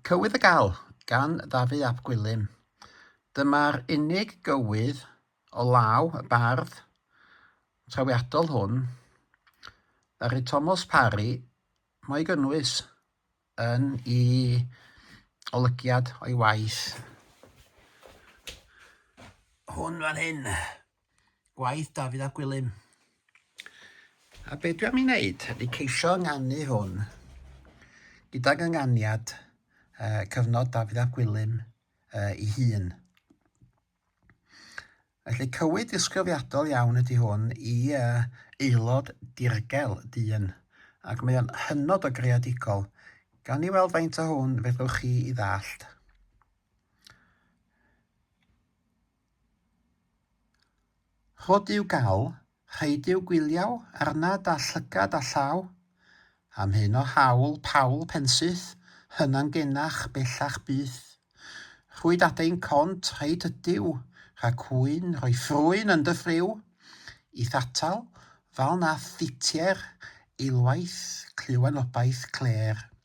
Cywydd y Gal, gan Dafydd ap Gwilym. Dyma'r unig gywydd o law y bardd trawiadol hwn ddaru Tomos Parry mo'i gynnwys yn i olygiad o'i waith hwn fan hyn. Gwaith Dafydd ap Gwilym. A be dwi am ei wneud ydy ceisio ynganu hwn gydag ynganiad uh, cyfnod Dafydd ap Gwilym uh, ei hun. Felly cywyd ddisgrifiadol iawn ydy hwn i uh, aelod dirgel dyn, ac mae o'n hynod o greadigol. Gawn ni weld faint o hwn fedrwch chi i ddallt. Rhod i'w gael, rhaid i'w gwyliau, arnad a llygad a llaw, Am hyn o haul, Paul, pensyth, hyna'n genach, bellach byth. Rhwyd adein cont, rhaid ydyw, rha cwyn, rhoi ffrwyn yn dy ffriw, I'th atal, fal na thitier, eilwaith, clyw anobaith, clêr.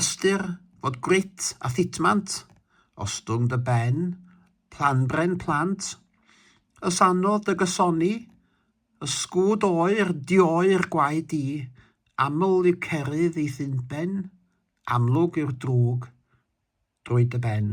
Ystyr fod grit a thitmant, ostwng dy ben, planbren plant, ys anodd dy gysoni, ysgwd oer, dioer gwaed di, aml yw cerydd eith unben, amlwg yw'r drwg drwy dy ben.